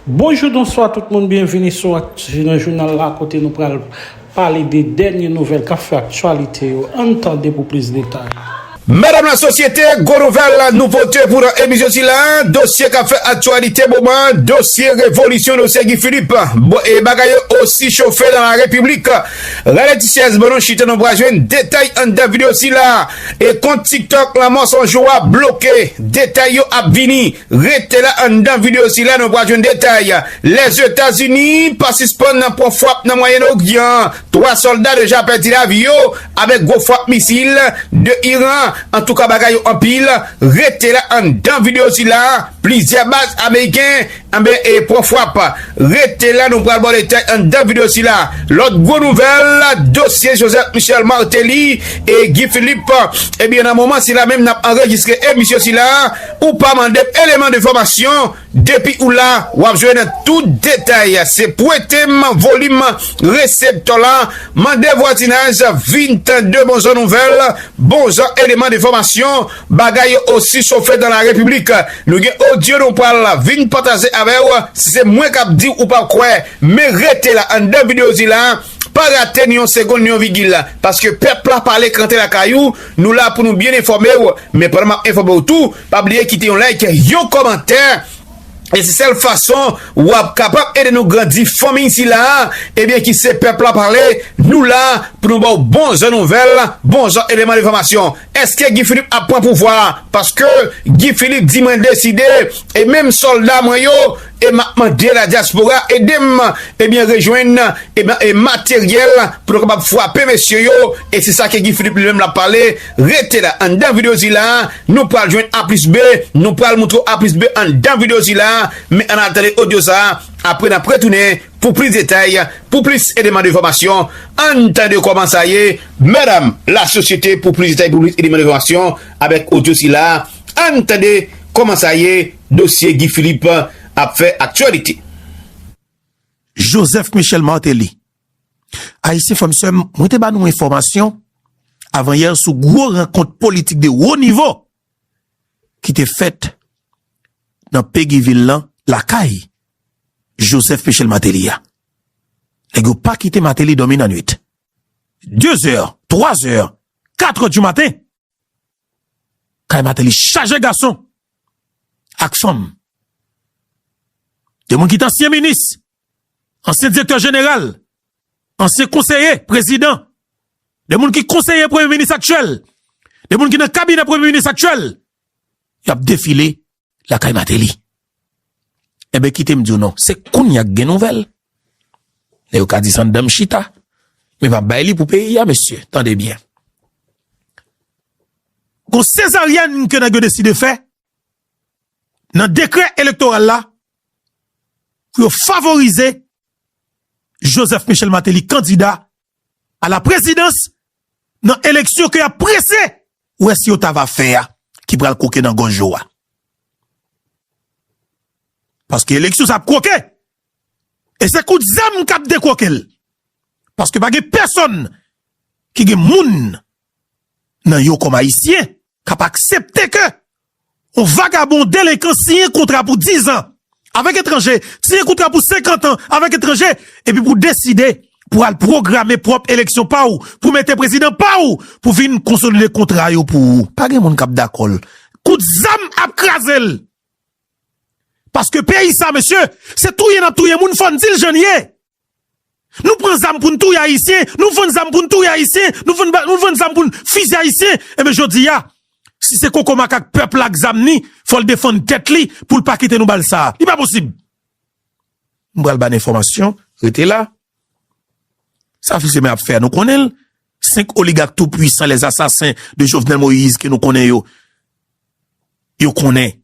Bonjou bonswa tout moun byenvini sou Aktu nan jounal la kote nou pral pale de dènye nouvèl kap fè aktyalite yo ann tande pou plis detay. Medam la sosyete, gwo nouvèl, nouvote pou nan emisyon sila, dosye kap fè aktyalite moman an, dosye revolisyon dosye Guy Philippe, bon e bagay yo osi chofe nan la repiblik, rele ti syèz ban nou chita nou pral jwenn detay anndan video sila e kont tiktok lanmò 100 jou a bloke detay yo ap vini. Rete la anndan video sila nou pral jwenn detay. Lèzetazini pa sispann nan pran fwap nan Mwayen Oryan, 3 sòlda deja pèdi lavi yo avèk gwo fwap misil de Iran, antouka bagay yo anpil, rete la anndan video sila plizyè baz ameriken anben e pran fwap, rete la nou pral baw detay anndan video sila. Lòt gwo nouvèl dosye Joseph Michel Martelly e Guy Philippe ebyen nan moman sila menm nap anrejistre emisyon sila. Ou pa mande eleman de fòmasyon, depi ou la wap jwenn tout detay se pwetem volim reseptò la mande vwazinaj vin tande bon jan nouvèl bon jan eleman de fòmasyon bagay yo osi chofe dan la repiblik nou gen odyo nou pral vin pataje avèw si se mwen kap diw ou pap kwè men rete la anndan videozila pa rate ni yon segonn ni yon vigil paske pèp la pale krante lakay ou Nou la pou nou byen enfòme w, men pandan map enfòme w tou, pa bliye kite yon like, yon kòmantè, e se sèl fason wap kapab ede nou grandi fanmiy sila ebyen ki se pèp la pale, nou la pou nou ba w bon jan nouvèl, bon jan eleman enfòmasyon. Eske Guy Philippe ap pran pouvwa? Paske Guy Philippe di mwen deside e menm sòlda mwen yo, e map mande la diaspora edem ebyen rejwenn ebyen e materyèl pou nou kapab fwape mesye yo e se sa ke Guy Philippe li menm lap pale rete la anndan video sila nou pral jwenn a plis b nou pral moutre w a plis b anndan video sila men ann al tande odyo sa apre nap retounen pou plis detay pou plis eleman de fòmasyon ann tande kòman sa ye madame la sosyete pou plis detay pou plis eleman de fòmasyon avèk odyo sila ann tande kòman sa ye. Dosye Guy Philippe ap fè aktyalite. Joseph Michel Martelly. Ayisyen frè m sè m, mwen te ba nou enfòmasyon avan yè sou gwo rankont politik de wo nivo ki te fèt nan Pegi vil lan lakay Joseph Michel Martelly a. Nèg yo pa kite Martelly dòmi nan nwit. De zè, twa zè, katrè di maten. Kay Mateli chaje gason ak fanm. Gen moun ki te ansyen minis, ansyen direktè jeneral, ansyen konseye prezidan, gen moun ki konseye premye minis aktyèl, gen moun ki nan kabinè premye minis aktyèl, y ap defile. Lakay Mateli. Enben kite m di w non, se kounya k gen nouvèl. Lè yo ka di sa anndan m chita. Men pa bay li pou peyi a mesye, tande byen. Gon sezaryèn ke nèg yo deside fè nan dekrè elektoral la pou yo favorize Joseph Michel Mateli kandida a la prezidans nan eleksyon ke yap prese wè si yo ta va fè a ki pral kwoke nan gòj yo a. Paske eleksyon sa ap kwoke e se kout zam kap dekwoke l. Paske pa gen pèsòn ki gen moun nan yo kòm ayisyen kap aksepte ke Yon vagabon delenkan siyen kontra pou dizan avèk etranje, siyen kontra pou senkantan avèk etranje, epi pou deside pou al pwograme pwòp eleksyon pa ou, pou mete prezidan pa ou, pou vin konsolide kontra yo pou ou. Pa gen moun k ap dakò l. Kout zam ap kraze l. Paske peyi sa mesye, se touye n ap touye moun, fò n di l jan l ye. Nou pran zam poun touye ayisyen, nou vann zam poun touye ayisyen, nou vann nou vann zam poun fizye ayisyen enben jodia si se koko makak pèp la ak zam ni fòl defann tèt li poul pa kite nou bal sa li pa posib m pral ban enfòmasyon rete la sa fils aimé ap fè a nou konnenl 5 oligak tou pwisan les asasen de jovenel moïse ke nou konnen yo yo konnen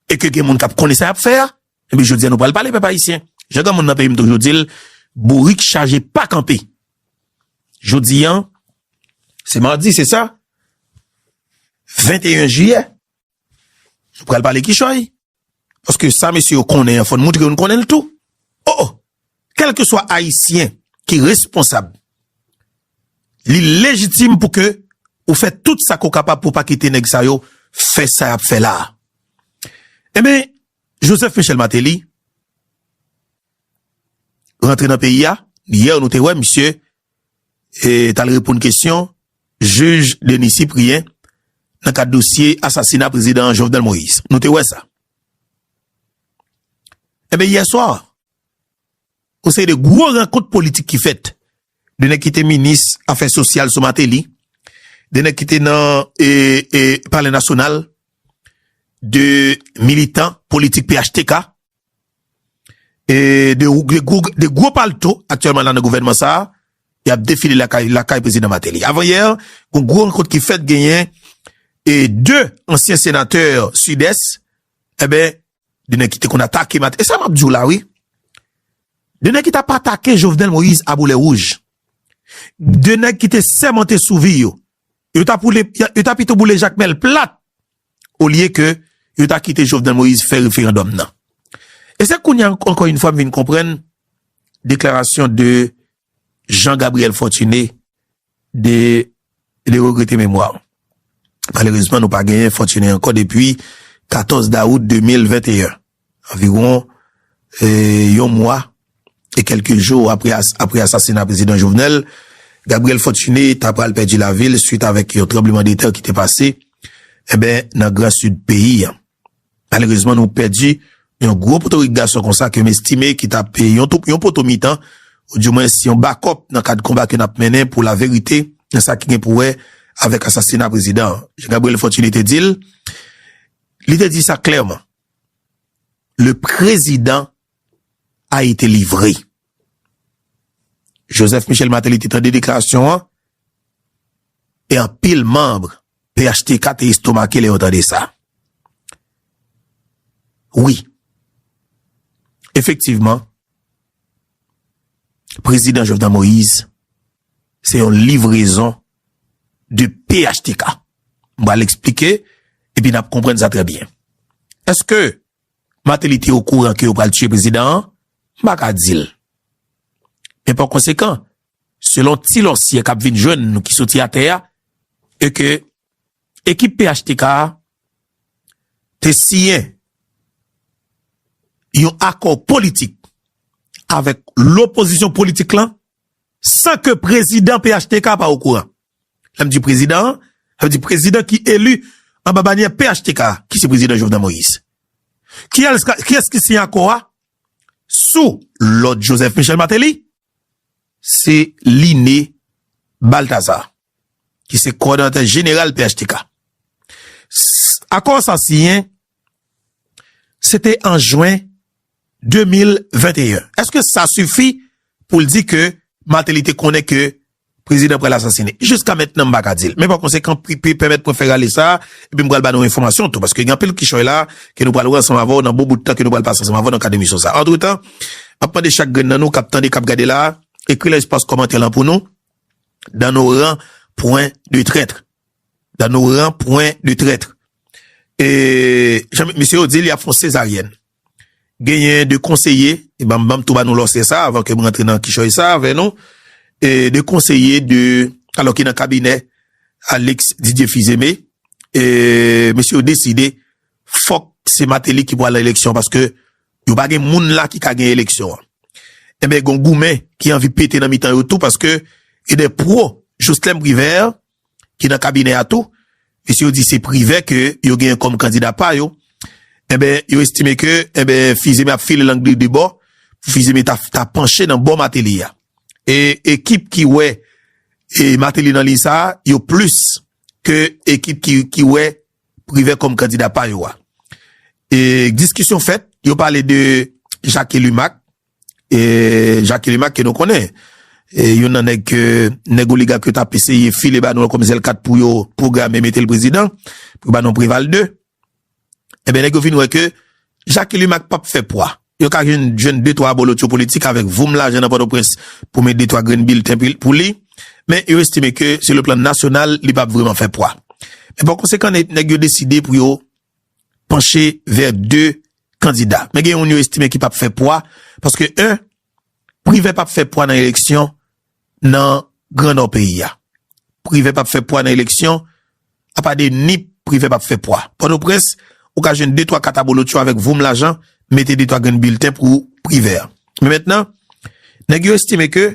e ke gen moun kap konnen sa yap fè a Ebyen jodi a nou pral pale pèp ayisyen. Jan granmoun nan peyi m toujou di l, bourik chaje pa kanpe. Jodi an, se madi se sa? 21 jiyè. Nou pral pale kichòy. Paske sa mesye yo konnen an fò n moutre yo n konnen l tou. O o! Kèlke swa ayisyen ki responsab, li lejitim pou ke ou fè tout sa ke w kapab pou w pa kite nèg sa yo fè sa y ap fè la a. Ebyen, Joseph Michel Martelly rantre nan peyi a, yè nou te wè misye t al reponn kesyon jij Denis Cyprien nan kad dosye asasina prezidan Jovenel Moïse, nou te wè sa. Enben yè swa, Yon seri de gwo rankont politik ki fèt. 2 nèg ki te minis afè sosyal sou Mateli, 2 nèg ki te nan palè nasyonal, 2 militan politik phtk, 2 gwo palto aktyèlman la nan gouvènman sa a, y ap defile lakay prezidan Mateli. Avan yè, yon gwo rankont ki fèt genyen 2 ansyen senatè sidès, enben, De nèg ki te konn atake Martelly. E sa map diw la wi. De nèg ki tap atake Jovenel Moïse a boulè wouj. De nèg ki te sèmante sou vi yo. Yo ta poule, yo ta pito boule Jacmel plat. Olye ke yo ta kite Jovenel Moïse fè referandòm nan. E se kounye ankò yon fwa m vin konprann deklarasyon de Jean Gabriel Fortuné de le regrete memwa. Malerezman nou pa genyen Fortuné ankò depi 14 dawout 2021, anviwon yon mwa e kelke jou apre asasina Prezidan Jovenel, Gabriel Fortuné ta pral pèdi lavi l swit avèk yon tranbleman de tè ki te pase nan gran Sid peyi an. Malerezman nou pèdi yon gwo potorik gason konsa ke m estime ki t ap yon poto mitan ou di mwens yon bakòp nan kad konba ke n ap mennen pou laverite nan sa ki gen pou wè avèk asasina prezidan an. Jan Gabriel Fortuné te di l, li te di sa klèman, Le prezidan a ete livre. Joseph Michel Martelly te tande deklarasyon an e anpil manb phtk te estomake lè yo tande sa. Wi, efektivman, Prezidan Jovenel Moïse se yon livrezon de phtk. M ba l eksplike e pi n ap konprann sa trè byen. Eske Martelly te okouran ke yo pral tiye prezidan an? M pa ka di l. Men pa konsekan, selon ti lòsyè k ap vin jwenn nou ki soti atè a, e ke ekip phtk a te siyen yon akò politik avèk lopozisyon politik lan san ke prezidan phtk pa okouran. Lè m di prezidan an, sa vle di prezidan ki eli anba banyè phtk a, ki se prezidan Jovenel Moïse. Kiyès ki siyen akò a? Sou lòd Joseph Michel Martelly, se Liné Balthazar, ki se kòdonatè jeneral phtk. Akò sa siyen, se te an jwen 2021. Eske sa sifi pou l di ke Martelly te konnen ke Prezidan pral asasine. Jiska mentnan m pa ka di l. Men pa konsekan Pripé pèmèt mwen fè rale sa a epi m pral ba nou enfòmasyon tou paske gen anpil kichòy la a ke nou pral wè ansanm avè w nan bon bout tan ke nou pral pase ansanm avè w nan kad emisyon sa a. Antretan, m ap mande chak grenn nan nou k ap tande, k ap gade la a, ekri nan espas kòmantè lan pou nou, Dan Noran pwen de trètre. Dan Noran pwen de trètre. E, jan mesye yo di l, y ap fè yon sezaryèn. Genyen 2 konseye, e banm banm tou ba nou lòsè sa avan ke m rantre nan kichòy sa avè nou, e 2 konseye de alò ki nan kabinè Alix Didier Fils-Aimé, e mesye yo deside fòk se Martelly ki pwal eleksyon paske yo pa gen moun la ki ka gen eleksyon an. Enben gon goumen ki anvi pete nan mitan yo tou paske gen 2 pro Joslem Privert ki nan kabinè a tou, mesye yo di se Privè ke yo genyen kòm kandida pa yo, enben yo estime ke enben Fils-Aimé ap file lang li de bò, pou Fils-Aimé ta panche nan bò Martelly a. E ekip ki wè Martelly nan liy sa a, yo plis ke ekip ki wè Privè kòm kandida pa yo a. E diskisyon fèt, yo pale de Jacques Elumac. E Jacky Limac ke nou konnen, youn nan nèg ke nèg oligak yo tap eseye file ba nou an kòm zèl kat pou yo pwograme mete l prezidan, pou ba nou Preval 2. Enben nèg yo vin wè ke Jacky Limac pap fè pwa. Yo ka vin jwenn de twa abolotcho politik avèk voum lajan nan Pòtoprens pou met de twa grenn bilten pou li, men yo estime ke sou le plan nasyonal li pap vreman fè pwa. Men pa konsekan nèg yo deside pou yo panche vè 2 kandida. Men gen youn yo estime ki p ap fè pwa, paske 1, Privè p ap fè pwa nan eleksyon nan gran nò peyi a. Privè p ap fè pwa nan eleksyon, apa de Nip, Privè p ap fè pwa. Pòtoprens, ou ka jwenn 2, 3 kat abolotcho avèk voum lajan, mete 2, 3 grenn bilten pou Privè. Men mentnan, nèg yo estime ke,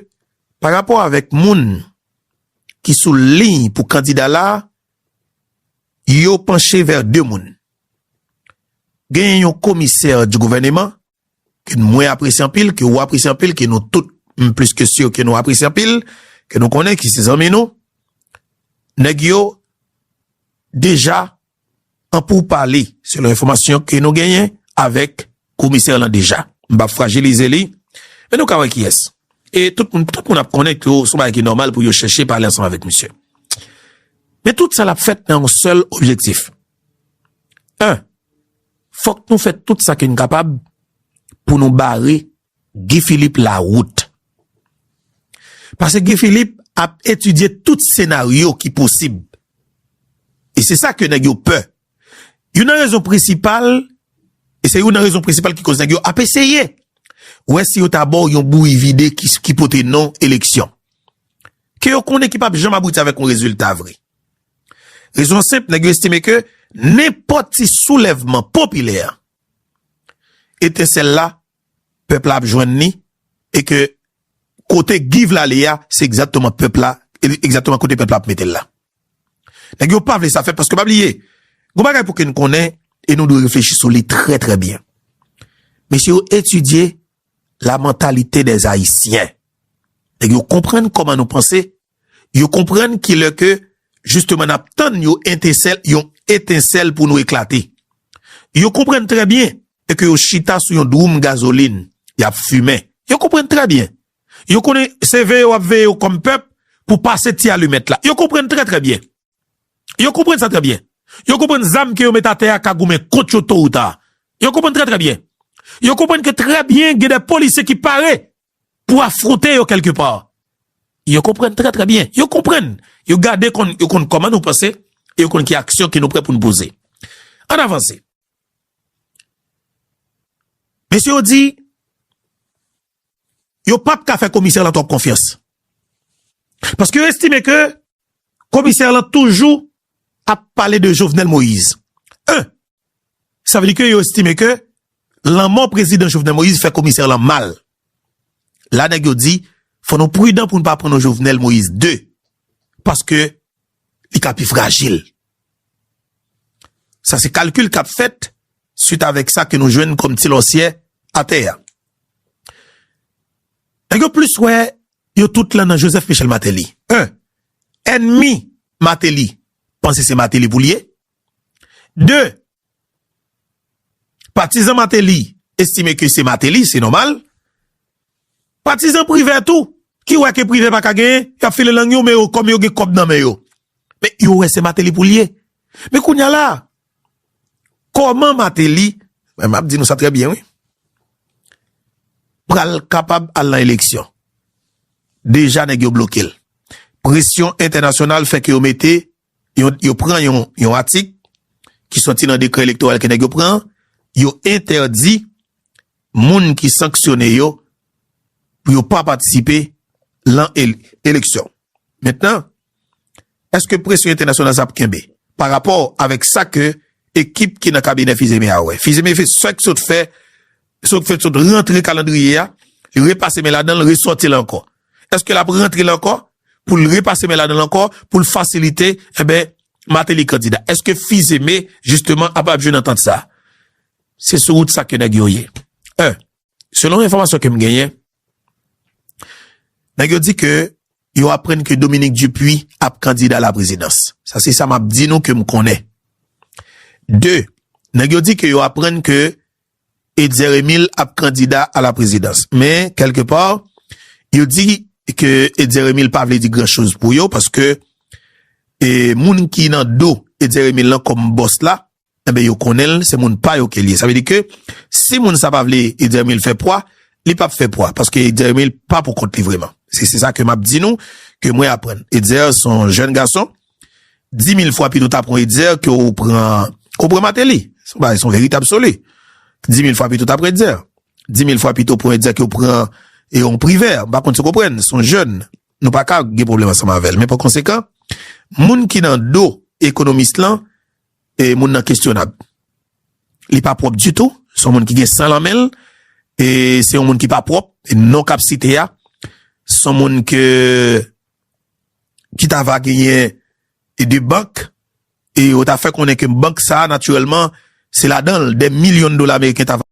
parapò avèk moun ki sou liy pou kandida la, yo panche vè 2 moun. Genyen yon komisè di gouvèneman ke mwen apresye anpil, ke ou apresye anpil, ke nou tout m plis ke si ke nou apresye anpil, ke nou konnen ki se zanmi nou, nèg yo deja an pou pale selon enfomasyon ke nou genyen avèk Komisè lan deja. M pap frajilize li, men nou ka wè kiyès. E tout moun, tout moun ap konnen ke son bagay ki nòmal pou yo chèche pale ansanm avèk misye. Men tout sa l ap fèt nan yon sèl objektif. En, fòk nou fè tout sa ke nou kapab pou nou bare Guy Philippe la wout. Pase Guy Philippe ap etidye tout senaryo ki posib. E se sa ke nèg yo pè Youn nan rezon prensipal, e se youn nan rezon prensipal ki koz nèg yo ap eseye wè si yo ta ba w yon bouyi vide ki pote non eleksyon, ke yo konnen ki pap janm abouti avèk yon rezilta vre. Rezon an senp, nèg yo estime ke nenpòt ti soulèvman popilè, etensèl la, pèp la ap jwenn li, e ke kote Guy vle ale a, se egzatteman pèp la, egzatteman kote pèp la ap mete l la. Nèg yo pa vle sa fèt paske pa bliye, gon bagay pou ke n konnen e nou dwe reflechi sou li trè trè byen. Mesye yo etidye la mantalite dè Ayisyen. Nèg yo konprann kòman nou panse, yo konprann ki lè ke jisteman n ap tann yon entesèl, yon etensèl pou nou eklate. Yo konprann trè byen e ke yo chita sou yon dwoum gazolin, y ap fimen. Yo konprann trè byen Yo konnen se veye wap veye yo kòm pèp pou pase ti alimèt la. Yo konprann trè trè byen. Yo konprann sa trè byen. Yo konprann zam ke yo met atè a ka goumen kont yo to ou ta. Yo konprann trè trè byen. Yo konprann ke trè byen gen de polisye ki pare pou afronte yo kelke pa. Yo konprann trè trè byen. Yo konprann. Yo gade konn yo konn kòman nou panse e yo konn ki aksyon ke nou prè pou nou poze. An avanse. Mesye yo di. yo pa p ka fè komisè lan twòp konfyans. Paske yo estime ke komisè lan toujou ap pale de Jovenel Moïse. En, sa vle di ke yo estime ke lanmò prezidan Jovenel Moïse fè komisè lan mal. La nèg yo di, fò nou prudan pou nou pa pran non Jovenel Moïse ii. Paske li ka pi frajil. Sa se kalkil kap fèt swit avèk sa ke nou jwenn kòm ti lòsyè atè a. Nèg yo plis wè yo tout lan nan Joseph Michel Martelly. 1, Ènmi Martelly panse se Martelly pou l ye. 2, Patizan Mateli estime ke se Mateli, se nòmal. Patizan Privè tou, ki wè ke Privè pa ka genyen, y ap file lang yo, men yo kòm yo gen kòb nan men yo. Men yo wè se Mateli pou l ye. Men kounye a la, kòman Mateli, m ap di nou sa trè byen wi, pral kapab al nan eleksyon? Deja nèg yo bloke l. Presyon entènasyonal fè ke yo mete Yo pran yon atik ki sòti nan dekrè elektoral ke nèg yo pran an, yo entèdi moun ki sanksyone yo pou yo pa patisipe lan eleksyon. Mentnan, eske presyon entènasyonal sa ap kenbe? Pa rapò avèk sa ke ekip ki nan kabinè Fizeme a wè. Fizeme fè sa ki sòt fè Sot fèt sot rantre kalandriye a, li repase men ladan l, resòti l ankò. Eske l ap rantre l ankò pou l repase men ladan l ankò pou l fasilite, enben, Mateli kandida? Eske Fizeme, jisteman, ap ap jwenn antant sa a? Se sou wout sa ke nèg yo ye. Un, selon enfòmasyon ke m genyen, nèg yo di ke yo aprann ke Dominique Dupuy ap kandida a la prezidans. Sa se sa m ap di nou ke m konnen. Deux, nèg yo di ke yo aprann ke Etzer Emile ap kandida a la prezidans. Men, kèlke pa, yo di ke Etzer Emile pa vle di gran choz pou yo paske moun ki nan do Etzer Emile lan kòm bòs la, enben yo konnen l, se moun pa yo ke l ye. Sa vle di ke si moun sa pa vle Etzer Emile fè pwa, li p ap fè pwa paske Etzer Emile pa pou kont li vreman. Se sa ke m ap di nou, ke mwen aprann. Etzer se yon jèn gason. Di mil fwa pito ta pran Etzer ke ou pran ou pran Mateli. Son bagay son verite absoli. Di mil fwa pito ta pran Etzer. Di mil fwa pito pran Etzer ke ou pran e yon privè. M pa konn si w konprann. Son jèn. Nou pa ka gen pwoblèm ansanm avè l. Men pa konsekan, moun ki nan do ekonomis lan, e moun nan kestyonab. Li pa pwòp ditou. Son moun ki gen san lan men l. E se yon moun ki pa pwòp. Non kap site a. Son moun ke... ki ta va genyen e de bank e yo ta fè konnen ke bank sa a natirèlman se ladan l de milyon dola ameriken ta va.